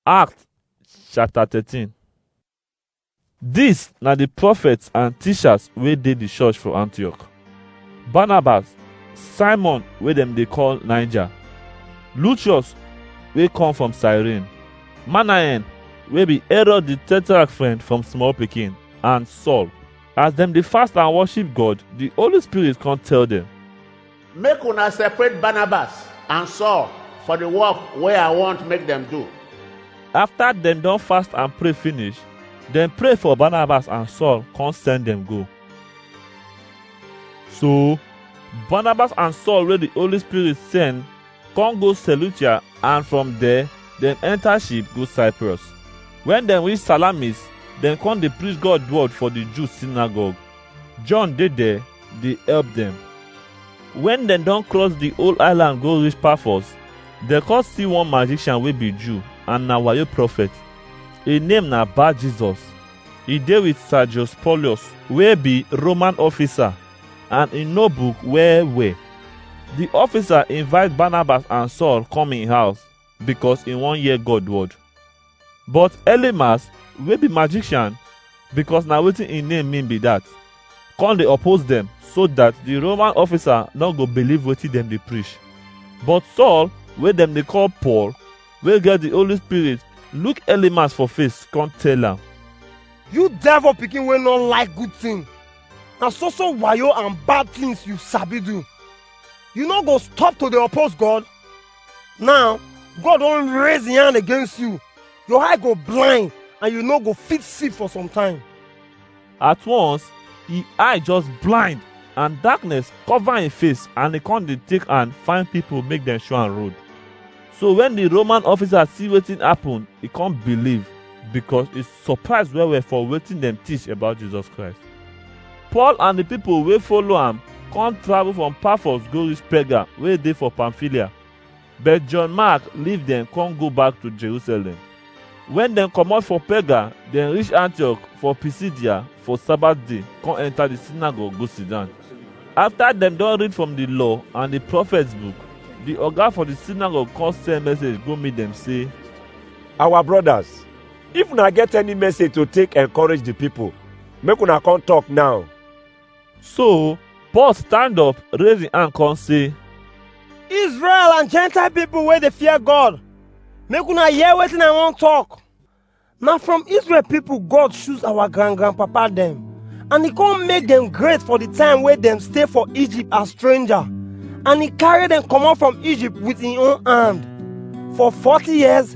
Acts chapter 13 Dis na di prophets and teachers wey dey di church for Antioch. Barnabas, Simon wey dem dey call Niger, Lucius wey come from Cyrene, Manaen wey be Herod di tetrarch friend from small pikin, and Saul. As dem dey fast and worship God, di Holy Spirit come tell dem, make una separate barnabas and saul for the work wey i want make dem do After dem don fast and pray finish, dem pray for Barnabas and Saul, come send dem go. So, Barnabas and Saul wey the Holy Spirit send, come go Seleucia and from there, dem enter ship go Cyprus. When dem reach Salamis, dem come dey preach God word for the Jews synagogue. John dey there dey help dem. When dem don cross the whole island go reach Paphos, dem come see one magician wey be Jew and na wayo prophet. Im name na Bar Jesus. E dey with Sergius Paulus wey be Roman officer and e know book well well. The officer invite Barnabas and Saul come im house because he wan hear God word. But Elymas wey be magician because na wetin im name mean be that, come dey oppose dem so that the Roman officer no go believe wetin dem dey preach. But Saul wey dem dey call Paul wey get the Holy Spirit look Elymas for face come tell am, You devil pikin wey no like good thing. Na so so wayo and bad things you sabi do. You no go stop to dey oppose God? now god don raise him hand against you your eye go blind and you no go fit see for some time at once him eye just blind and darkness cover him face and he come dey take hand find people make dem show am road so when the roman officer see wetin happen he come believe because he surprise well well for wetin dem teach about jesus christ Paul and the people wey follow am come travel from Paphos go reach Perga wey dey for Pamphylia. But John Mark leave dem come go back to Jerusalem. When dem comot for Perga, dem reach Antioch for Pisidia for Sabbath day, come enter the synagogue go sit down. After dem don read from the law and the prophets book, the oga for the synagogue come send message go meet dem say, Our brothers, If una get any message to take encourage the people, make una come talk now. So Paul stand up, raise him hand, come say, Israel and Gentile people wey dey fear God, make una hear wetin I wan talk. Na from Israel people God choose our grand grandpapa dem, and he come make dem great for the time wey dem stay for Egypt as stranger, and he carry dem comot from Egypt with him own hand. For forty years,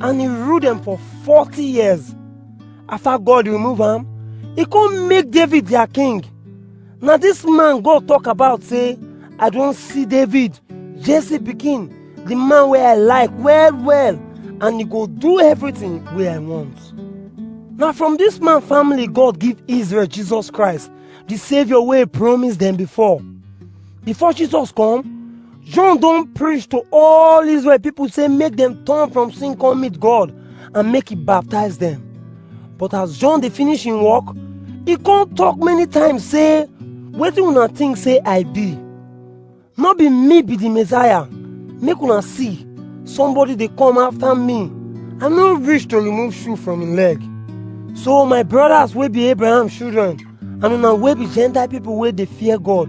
and he rule dem for forty years after god remove am he come make david their king na this man god talk about say i don see david jesse pikin the man wey i like well well and he go do everything wey i want na from this man family god give israel jesus christ the saviour wey he promise dem before Before Jesus come, John don preach to all Israel people say make dem turn from sin come meet God and make he baptize them. But as John dey finish him work, he come talk many times say, wetin una think say I be? No be me be the Messiah. Make una see, somebody dey come after me. I no reach to remove shoe from him leg. So my brothers wey be Abraham children, and una wey be gentile people wey dey fear god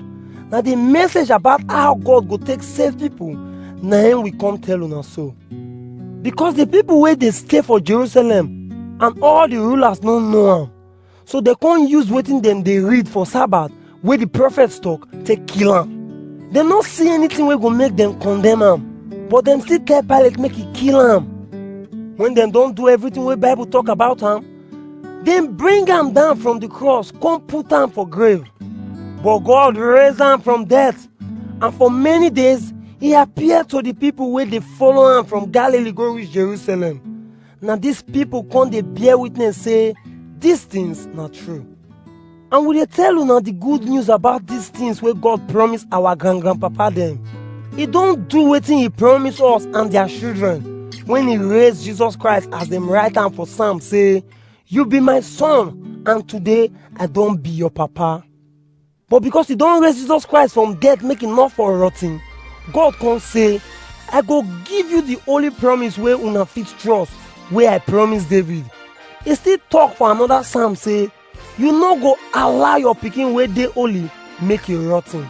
na the message about how god go take save people na im we come tell una so because the people wey dey stay for jerusalem and all the rulers no know am so dem come use wetin dem dey read for sabbath wey the prophets talk take kill am dem no see anything wey go make dem condemn am but dem still tell pilate make e kill am when dem don do everything wey bible talk about am dem bring am down from the cross come put am for grave but god raise am from death and for many days he appear to the people wey dey follow am from galilee go reach jerusalem na dis people come dey bear witness say dis things na true and we dey tell una the good news about these things wey god promise our grand grandpapa dem he don do wetin he promise us and their children when he raise jesus christ as dem write am for psalm say you be my son and today i don be your papa but because he don raise jesus christ from death make he no for rot ten god come say i go give you the holy promise wey una fit trust wey i promise david he still talk for another psalm say you no go allow your pikin wey dey holy make e rot ten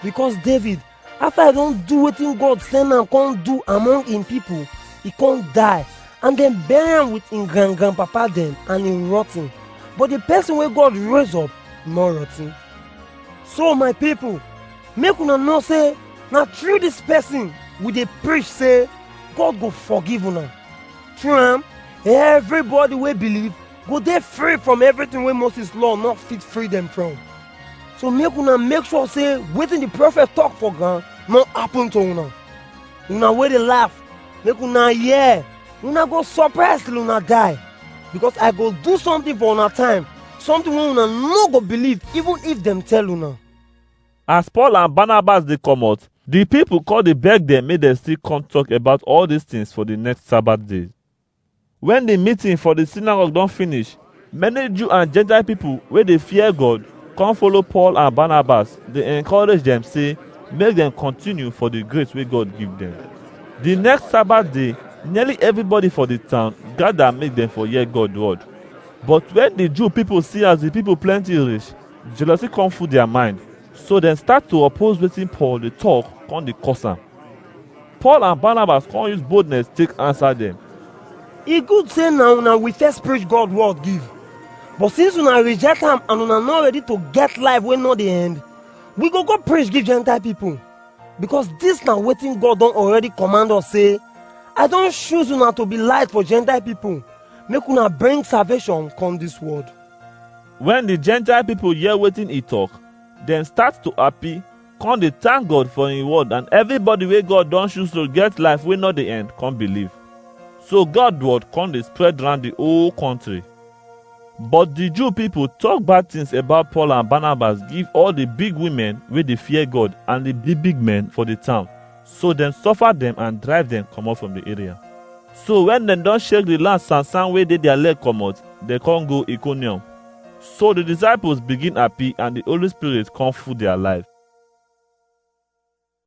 because david after e don do wetin god send am come do among im people e come die and dem bury am with im grand grandpapa dem and e rot ten but the person wey god raise up no rot ten so my people make una know say na through this person we dey preach say god go forgive una through am everybody wey believe go dey free from everything wey moses law no fit free dem from so make una make sure say wetin the prophet talk for ground no happen to una una wey dey laugh make una hear una go surprise till una die because i go do something for una time something wey una no go believe even if dem tell una. As Paul and Barnabas dey comot, the people come dey beg dem make dem still come talk about all these things for the next Sabbath day. Wen di meeting for di sinagog don finish, many Jew and Jentail pipol wey dey fear God kom follow Paul and Banabas dey enkorage dem sey make dem kontiniu for di grace wey God give dem. Di next Sabat day, nearly evribody for di town gada make dem for hear God word. But wen di Jew pipol si as di pipol plenti rish, jealousy kom full dia mind. So dem start to oppose wetin Paul dey talk come dey curse am. Paul and Barnabas come use boldness take answer dem. E good say na una we first preach God word give. But since una reject am and una no ready to get life wey no dey end, we go go preach give Gentile people. Because dis na wetin God don already command us say, I don choose una to be light for Gentile people, make una bring salvation come dis world. Wen di Gentile pipo hear wetin e tok, dem start to happy, con dey thank God for im word and everybody wey God don choose to get life wey no dey end con believe. So God word con dey spread round di whole country. But di Jew pipo tok bad things about Paul and Barnabas give all di big women wey dey fear God and di big big men for di town. So dem suffer dem and drive dem comot from the area. So when dem don shake the land sansan wey dey their leg comot, dem con go Iconium. So the disciples begin happy and the Holy Spirit con full their life.